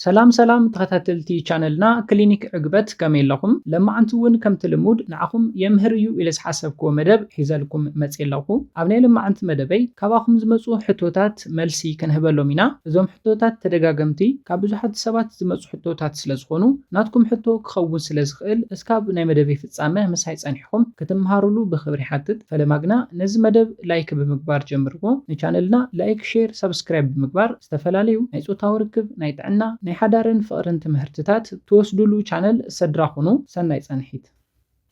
ሰላም ሰላም ተኸታተልቲ ቻነልና ክሊኒክ ዕግበት ከመይ ኣለኹም ለማዓንቲ ውን ከምቲ ልሙድ ንዓኹም የምህር እዩ ኢለ ዝሓሰብክዎ መደብ ሒዘልኩም መጽየ ኣለኹ ኣብ ናይ ለማዓንቲ መደበይ ካባኹም ዝመጹ ሕቶታት መልሲ ክንህበሎም ኢና እዞም ሕቶታት ተደጋገምቲ ካብ ብዙሓት ሰባት ዝመጹ ሕቶታት ስለ ዝኾኑ ናትኩም ሕቶ ክኸውን ስለ ዝኽእል እስካብ ናይ መደበይ ፍጻመ ምሳይ ጸኒሕኹም ክትምሃሩሉ ብኽብሪ ይሓትት ፈለማ ግና ነዚ መደብ ላይክ ብምግባር ጀምርዎ ንቻነልና ላይክ ሼር ሳብስክራይብ ብምግባር ዝተፈላለዩ ናይ ጾታዊ ርክብ፣ ናይ ጥዕና፣ ናይ ሓዳርን ፍቕርን ትምህርትታት ትወስዱሉ ቻነል ሰድራ ኩኑ። ሰናይ ጸንሒት።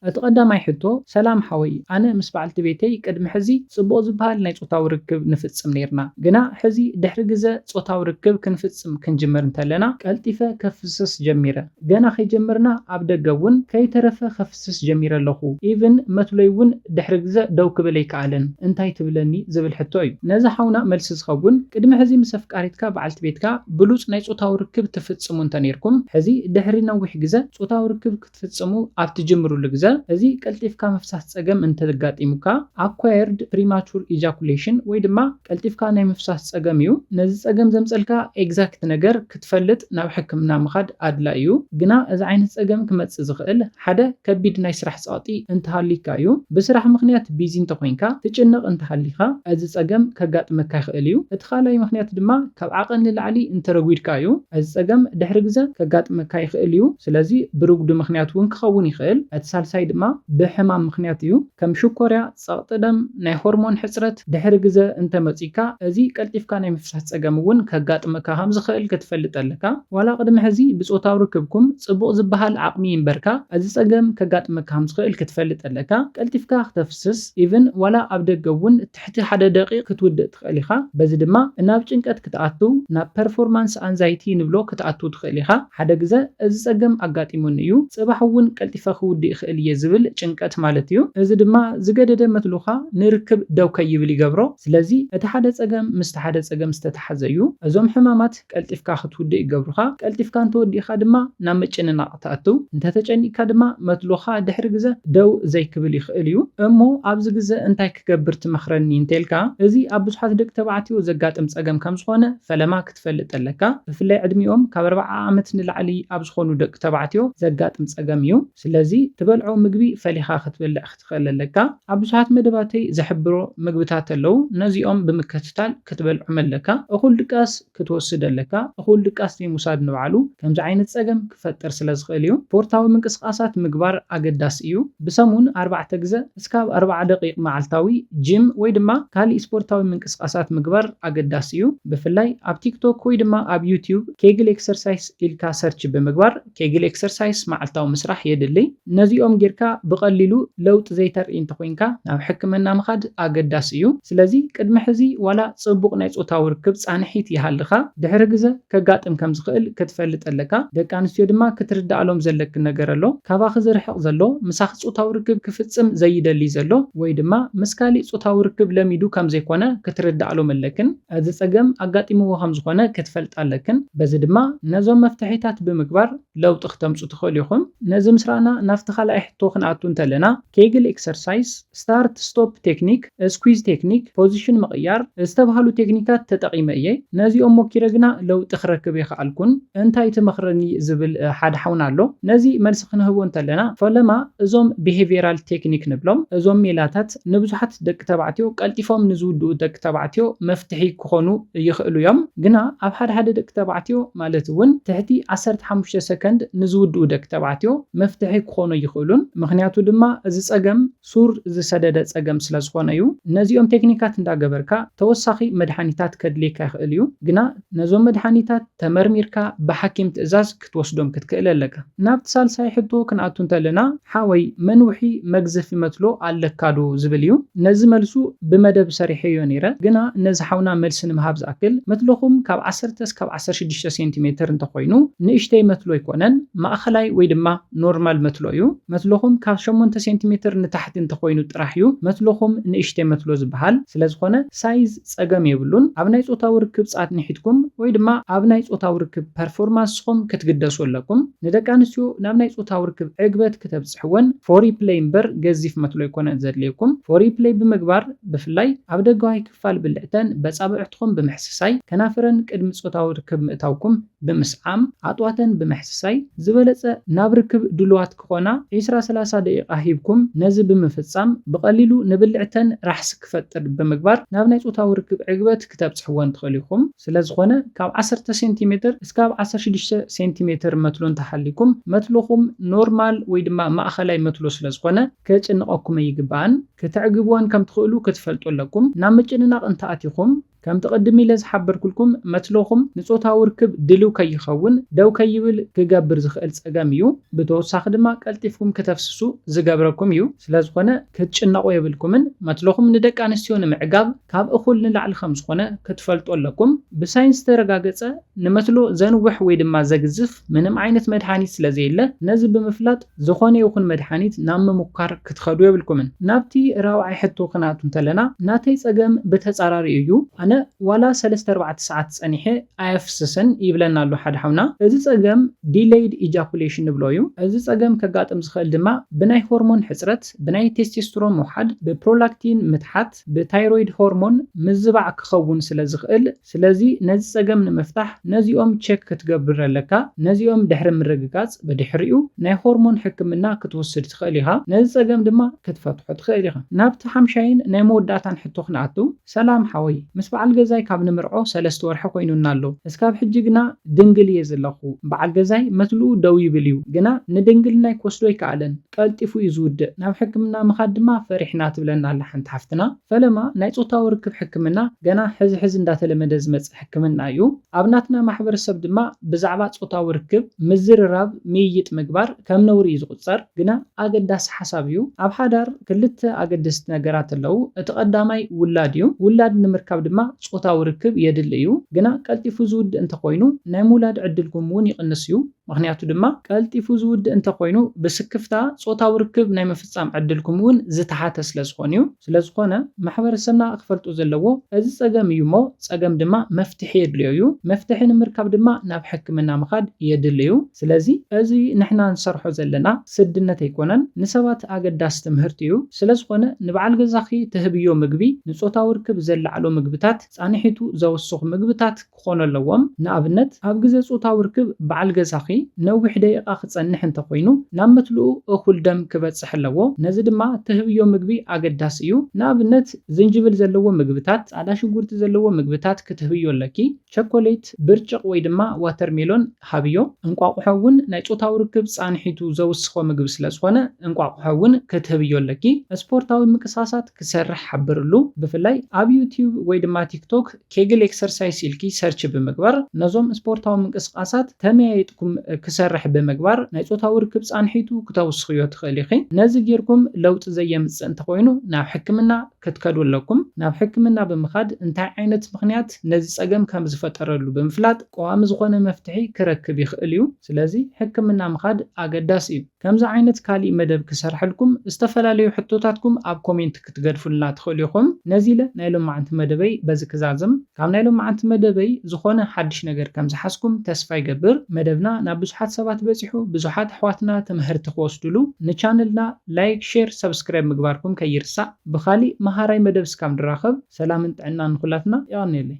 እቲ ቀዳማይ ሕቶ ሰላም ሓወይ ኣነ ምስ በዓልቲ ቤተይ ቅድሚ ሕዚ ጽቡቕ ዝበሃል ናይ ጾታዊ ርክብ ንፍጽም ኔርና ግና ሕዚ ድሕሪ ግዘ ጾታዊ ርክብ ክንፍጽም ክንጅምር እንተለና ቀልጢፈ ከፍስስ ጀሚረ ገና ከይጀመርና ኣብ ደገ ውን ከይተረፈ ክድህስስ ጀሚረ ኣለኹ። ኢቭን መትሎይ እውን ድሕሪ ግዘ ደው ክብል ኣይከኣለን። እንታይ ትብለኒ? ዝብል ሕቶ እዩ። ነዚ ሓውና መልሲ ዝኸውን፣ ቅድሚ ሕዚ ምስ ኣፍቃሪትካ፣ በዓልቲ ቤትካ፣ ብሉጽ ናይ ጾታዊ ርክብ ትፍጽሙ እንተነይርኩም፣ ሕዚ ድሕሪ ነዊሕ ግዘ ጾታዊ ርክብ ክትፍጽሙ ኣብ ትጅምርሉ ግዘ፣ እዚ ቀልጢፍካ ምፍሳስ ጸገም እንተጋጢሙካ፣ Acquired Premature Ejaculation፣ ወይ ድማ ቀልጢፍካ ናይ ምፍሳስ ጸገም እዩ። ነዚ ጸገም ዘምጸልካ ኤግዛክት ነገር ትፈልጥ ናብ ሕክምና ምኻድ ኣድላይ እዩ። ግና እዚ ዓይነት ፀገም ክመፅእ ዝኽእል ሓደ ከቢድ ናይ ስራሕ ፀቕጢ እንተሃልዩካ እዩ። ብስራሕ ምኽንያት ቢዚ እንተኾይንካ፣ ትጭነቕ እንተሃሊኻ እዚ ፀገም ከጋጥመካ ይኽእል እዩ። እቲ ካልኣይ ምኽንያት ድማ ካብ ዓቐን ንላዕሊ እንተረጒድካ እዩ። እዚ ፀገም ድሕሪ ግዘ ከጋጥመካ ይኽእል እዩ። ስለዚ ብርጉዲ ምኽንያት እውን ክኸውን ይኽእል። እቲ ሳልሳይ ድማ ብሕማም ምኽንያት እዩ። ከም ሽኮርያ፣ ጸቕጢ ደም፣ ናይ ሆርሞን ሕጽረት፣ ድሕሪ ግዘ እንተ መጺካ፣ እዚ ቀልጢፍካ ናይ ምፍሳስ ጸገም እውን ከጋጥመካ ከም ዝኸእል ክትፈልጥ ኣለካ። ዋላ ቅድሚ ሕዚ ብጾታዊ ርክብኩም ጽቡቕ ዝበሃል ዓቕሚ ይንበርካ፣ እዚ ጸገም ከጋጥመካ ከም ዝኸእል ክትፈልጥ ኣለካ። ቀልጢፍካ ክተፍስስ፣ ኢቭን ዋላ ኣብ ደገ እውን ትሕቲ ሓደ ደቒቕ ክትውድእ ትኽእል ኢኻ። በዚ ድማ ናብ ጭንቀት ክትኣቱ፣ ናብ ፐርፎርማንስ ኣንዛይቲ ንብሎ ክትኣቱ ትኽእል ኢኻ። ሓደ ግዘ እዚ ፀገም ኣጋጢሙኒ እዩ፣ ፅባሕ እውን ቀልጢፈ ክውድእ ይኽእል እየ ዝብል ጭንቀት ማለት እዩ። እዚ ድማ ዝገደደ መትሉኻ ንርክብ ደው ከይብል ይገብሮ። ስለዚ እቲ ሓደ ፀገም ምስቲ ሓደ ፀገም ዝተተሓዘ እዩ። እዞም ሕማማት። ቀልጢፍካ ክትውድእ ይገብሩኻ፣ ቀልጢፍካ እንተወዲእካ ድማ ናብ ምጭንናቕ ትኣትው፣ እንተተጨኒቕካ ድማ መትሎኻ ድሕሪ ግዘ ደው ዘይክብል ይኽእል እዩ። እሞ ኣብዚ ግዘ እንታይ ክገብር ትመኽረኒ እንተልካ፣ እዚ ኣብ ብዙሓት ደቂ ተባዕትዮ ዘጋጥም ፀገም ከምዝኾነ ፈለማ ክትፈልጥ ኣለካ። ብፍላይ ዕድሚኦም ካብ ኣርብዓ ዓመት ንላዕሊ ኣብ ዝኾኑ ደቂ ተባዕትዮ ዘጋጥም ፀገም እዩ። ስለዚ ትበልዖ ምግቢ ፈሊኻ ክትበልዕ ትኽእል ኣለካ። ኣብ ብዙሓት መደባተይ ዘሕብሮ መግብታት ኣለው ነዚኦም ብምከትታል ክትበልዖም ኣለካ። እኹል ድቃስ ክትወስድ ኣለካ። እኹል ድቃስ ዘይምውሳድ ንባዕሉ ከምዚ ዓይነት ጸገም ክፈጥር ስለ ዝኽእል እዩ። ስፖርታዊ ምንቅስቃሳት ምግባር ኣገዳሲ እዩ። ብሰሙን ኣርባዕተ ግዘ እስካብ ኣርባዓ ደቂቅ መዓልታዊ ጂም ወይ ድማ ካሊእ ስፖርታዊ ምንቅስቃሳት ምግባር ኣገዳሲ እዩ። ብፍላይ ኣብ ቲክቶክ ወይ ድማ ኣብ ዩትዩብ ኬግል ኤክሰርሳይስ ኢልካ ሰርች ብምግባር ኬግል ኤክሰርሳይስ መዓልታዊ ምስራሕ የድሊ። ነዚኦም ጌርካ ብቐሊሉ ለውጢ ዘይተርኢ እንተኾይንካ ናብ ሕክምና ምኻድ ኣገዳሲ እዩ። ስለዚ ቅድሚ ሕዚ ዋላ ጽቡቕ ናይ ጾታዊ ርክብ ጻንሒት ይሃልኻ፣ ድሕሪ ግዘ ከጋጥም ከም ዝኽእል ክትፈልጥ ኣለካ። ደቂ ኣንስትዮ ድማ ክትርድኣሎም ዘለኪ ነገር ኣሎ። ካባኺ ዝርሕቕ ዘሎ፣ ምሳኺ ጾታዊ ርክብ ክፍጽም ዘይደልይ ዘሎ ወይ ድማ ምስ ካሊእ ጾታዊ ርክብ ለሚዱ ከም ዘይኮነ ክትርድኣሎም ኣለክን። እዚ ጸገም ኣጋጢምዎ ከም ዝኾነ ክትፈልጣ ኣለክን፣ በዚ ድማ ነዞም መፍትሒታት ብምግባር ለውጢ ክተምጹ ትኽእሉ ኢኹም። ነዚ ምስ ረኣና ናብቲ ካልኣይ ሕቶ ክንኣቱ እንተለና፣ ኬግል ኤክሰርሳይስ፣ ስታርት ስቶፕ ቴክኒክ፣ ስኲዝ ቴክኒክ፣ ፖዚሽን ምቕያር፣ ዝተብሃሉ ቴክኒካት ተጠቒመ እየ። ነዚኦም ሞኪረ ግና ለውጢ ክረክብ ኣይኸኣልኩን። እንታይ ትመኽረኒ ዝብል ሓደ ሓውና ኣሎ። ነዚ መልሲ ክንህቦ እንተለና፣ ፈለማ እዞም ቢሄቪየራል ቴክኒክ ንብሎም፣ እዞም ሜላታት፣ ንብዙሓት ደቂ ተባዕትዮ ቀልጢፎም ንዝውድኡ ደቂ ተባዕትዮ መፍትሒ ክኾኑ ይኽእሉ እዮም። ግና ኣብ ሓደ ሓደ ደቂ ተባዕትዮ ማለት እውን ትሕቲ ዓሰርተ ሓሙሽተ ሰከንድ ንዝውድኡ ደቂ ተባዕትዮ መፍትሒ ክኾኑ ኣይኽእሉን። ምኽንያቱ ድማ እዚ ፀገም ሱር ዝሰደደ ፀገም ስለዝኾነ እዩ። ነዚኦም ቴክኒካት እንዳገበርካ ተወሳኺ መድሓኒታት ከድልየካ ይኽእል እዩ። ግና ነዞም መድሓኒታት ተመርሚርካ ብሓኪም ትእዛዝ ክትወስዶም ክትክእል ኣለካ። ናብቲ ሳልሳይ ሕቶ ክንኣቱ እንተለና ሓወይ መንውሒ መግዘፊ መትሎ ኣለካ ዶ ዝብል እዩ። ነዚ መልሱ ብመደብ ሰሪሐዮ ነይረ ግና ነዚ ሓውና መልሲ ንምሃብ ዝኣክል መትሎኹም ካብ ዓሰርተ እስካብ ዓሰርተ ሽዱሽተ ሴንቲ ሜትር እንተኾይኑ ንእሽተይ መትሎ ኣይኮነን ማእኸላይ ወይ ድማ ኖርማል መትሎ እዩ። መትሎኹም ካብ ሸሞንተ ሴንቲ ሜትር ንታሕቲ እንተኾይኑ ጥራሕ እዩ መትሎኹም ንእሽተይ መትሎ ዝባሃል። ስለዝኾነ ሳይዝ። ጸገም የብሉን ኣብ ናይ ጾታዊ ርክብ ጻት ንሒትኩም ወይ ድማ ኣብ ናይ ጾታዊ ርክብ ፐርፎርማንስኹም ክትግደሱ ኣለኩም ንደቂ ኣንስትዮ ናብ ናይ ጾታዊ ርክብ ዕግበት ክተብጽሕወን ፎሪፕለይ እምበር ገዚፍ መትሎ ኣይኮነን ዘድልየኩም ፎሪፕለይ ብምግባር ብፍላይ ኣብ ደጋዋይ ክፋል ብልዕተን በጻብዕትኹም ብምሕስሳይ ከናፍረን ቅድሚ ጾታዊ ርክብ ምእታውኩም ብምስዓም፣ ዓጥዋተን ብምሕስሳይ፣ ዝበለጸ ናብ ርክብ ድሉዋት ክኾና ዕስራ ሰላሳ ደቂቓ ሂብኩም ነዚ ብምፍጻም ብቐሊሉ ንብልዕተን ራሕሲ ክፈጥር ብምግባር ናብ ናይ ጾታዊ ርክብ ዕግበት ክተብጽሕወን ትኽእሉ ኢኹም። ስለዝኾነ ካብ ዓሰርተ ሴንቲ ሜትር እስካብ ዓሰርተ ሽዱሽተ ሴንቲ ሜትር መትሎ እንተሃልይኩም መትሎኹም ኖርማል ወይ ድማ ማእኸላይ መትሎ ስለዝኾነ ከጭንቐኩም ኣይግባእን። ክተዕግብወን ከምትኽእሉ ክትፈልጡ ኣለኩም። ናብ ምጭንናቕ እንተኣቲኹም፣ ከምቲ ቅድም ኢለ ዝሓበርኩልኩም መትሎኹም ንጾታዊ ርክብ ድልው ከይኸውን፣ ደው ከይብል፣ ክገብር ዝኽእል ጸገም እዩ። ብተወሳኺ ድማ ቀልጢፍኩም ክተፍስሱ ዝገብረኩም እዩ። ስለዝኾነ ክትጭነቑ የብልኩምን። መትሎኹም ንደቂ ኣንስትዮ ንምዕጋብ ካብ እኹል ንላዕሊ ከምዝኾነ ክትፈልጡ ኣለኩም። ብሳይንስ ዝተረጋገጸ ንመትሎ ዘንውሕ ወይ ድማ ዘግዝፍ ምንም ዓይነት መድሃኒት ስለዘየለ ነዚ ብምፍላጥ፣ ዝኾነ ይኹን መድሓኒት ናብ ምሙካር ክትኸዱ የብልኩምን። ናብቲ ራብዓይ ሕቶ ክናቱ እንተለና ናተይ ጸገም ብተጻራሪኡ እዩ ኣነ ዋላ ሰለስተ ኣርባዕተ ሰዓት ጸኒሐ ኣየፍስስን ይብለና ኣሎ ሓደ ሓውና እዚ ጸገም ዲለይድ ኢጃኩሌሽን ንብሎ እዩ እዚ ጸገም ከጋጥም ዝኽእል ድማ ብናይ ሆርሞን ሕጽረት ብናይ ቴስቴስትሮን ምውሓድ ብፕሮላክቲን ምትሓት ብታይሮይድ ሆርሞን ምዝባዕ ክኸውን ስለ ዝኽእል ስለዚ ነዚ ጸገም ንምፍታሕ ነዚኦም ቸክ ክትገብር ኣለካ ነዚኦም ድሕሪ ምርግጋጽ ብድሕሪኡ ናይ ሆርሞን ሕክምና ክትወስድ ትኽእል ኢኻ ነዚ ጸገም ድማ ክትፈትሖ ትኽእል ኢኻ። ናብቲ ሓምሻይን ናይ መወዳእታን ሕቶ ክንኣቱ ሰላም ሓወይ ምስ በዓል ገዛይ ካብ ንምርዖ ሰለስተ ወርሒ ኮይኑና ኣሎ እስካብ ሕጂ ግና ድንግል እየ ዘለኩ በዓል ገዛይ መትልኡ ደው ይብል እዩ ግና ንድንግልናይ ክወስዶ ኣይከኣለን ቀልጢፉ እዩ ዝውድእ ናብ ሕክምና ምኻድ ድማ ፈሪሕና ትብለና ኣላ ሓንቲ ሓፍትና። ፈለማ ናይ ጾታዊ ርክብ ሕክምና ገና ሕዚ ሕዚ እንዳተለመደ ዝመጽእ ሕክምና እዩ። ኣብ ናትና ማሕበረሰብ ድማ ብዛዕባ ጾታዊ ርክብ ምዝርራብ ምይይጥ ምግባር ከም ነውሪ እዩ ዝቑጸር። ግና ኣገዳሲ ሓሳብ እዩ። ኣብ ሓዳር ክልተ ኣገደስቲ ነገራት ኣለዉ። እቲ ቀዳማይ ውላድ እዩ። ውላድ ንምርካብ ድማ ጾታዊ ርክብ የድሊ እዩ። ግና ቀልጢፉ ዝውድእ እንተኾይኑ ናይ ምውላድ ዕድልኩም እውን ይቕንስ እዩ። ምኽንያቱ ድማ ቀልጢፉ ዝውድእ እንተኾይኑ ብስክፍታ ጾታዊ ርክብ ናይ ምፍጻም ዕድልኩም እውን ዝተሓተ ስለዝኾን እዩ። ስለዝኾነ ማሕበረሰብና ክፈልጦ ዘለዎ እዚ ጸገም እዩ እሞ ጸገም ድማ መፍትሒ የድልዮ እዩ። መፍትሒ ንምርካብ ድማ ናብ ሕክምና ምኻድ የድሊ እዩ። ስለዚ እዚ ንሕና ንሰርሖ ዘለና ስድነት ኣይኮነን ንሰባት ኣገዳሲ ትምህርቲ እዩ። ስለዝኾነ ንበዓል ገዛኺ ትህብዮ ምግቢ ንጾታዊ ርክብ ዘለዓዕሉ ምግብታት፣ ጻንሒቱ ዘውስኹ ምግብታት፣ ክኾኑ ኣለዎም። ንኣብነት፣ ኣብ ግዘ ፁታዊ ርክብ በዓል ገዛኺ ነዊሕ ደቂቓ ክፀንሕ እንተኾይኑ ናብ መትልኡ እኹል ደም ክበፅሕ ኣለዎ። ነዚ ድማ ትህብዮ ምግቢ ኣገዳሲ እዩ። ንኣብነት፣ ዝንጅብል ዘለዎ ምግብታት፣ ፃዕዳ ሽጉርቲ ዘለዎ ምግብታት ክትህብዮ ኣለኪ። ቸኮሌት፣ ብርጭቕ ወይ ድማ ዋተርሜሎን ሃብዮ። እንቋቑሖ እውን ናይ ፆታዊ ርክብ ፃንሒቱ ዘውስኾ ምግቢ ስለዝኾነ እንቋቑሖ እውን ክትህብዮ ኣለኪ። ስፖርታዊ ምቅሳሳት ክሰርሕ ሓብርሉ። ብፍላይ ኣብ ዩትዩብ ወይ ድማ ቲክቶክ ኬግል ኤክሰርሳይስ ኢልኪ ሰርች ብምግባር ነዞም ስፖርታዊ ምንቅስቃሳት ተመያይጥኩም ክሰርሕ ብምግባር ናይ ጾታዊ ርክብ ጻንሒቱ ክተውስኽዮ ትኽእሊ ኢኺ። ነዚ ጌርኩም ለውጢ ዘየምጽእ እንተኾይኑ ናብ ሕክምና ክትከዱ ኣለኩም። ናብ ሕክምና ብምኻድ እንታይ ዓይነት ምኽንያት ነዚ ጸገም ከም ዝፈጠረሉ ብምፍላጥ ቀዋሚ ዝኾነ መፍትሒ ክረክብ ይኽእል እዩ። ስለዚ ሕክምና ምኻድ ኣገዳሲ እዩ። ከምዚ ዓይነት ካሊእ መደብ ክሰርሐልኩም ዝተፈላለዩ ሕቶታትኩም ኣብ ኮሜንት ክትገድፉልና ትኽእሉ ኢኹም። ነዚ ኢለ ናይ ሎማዕንቲ መደበይ በዚ ክዛዝም። ካብ ናይ ሎማዕንቲ መደበይ ዝኾነ ሓድሽ ነገር ከም ዝሓዝኩም ተስፋ ይገብር። መደብና ናብ ብዙሓት ሰባት በጺሑ ብዙሓት ኣሕዋትና ትምሀርቲ ክወስድሉ ንቻነልና ላይክ ሼር ሰብስክራይብ ምግባርኩም ከይርሳዕ። ብኻሊእ መሃራይ መደብ ስካብ ንራኸብ ሰላምን ጥዕናን ንኹላትና። የቐንየለይ።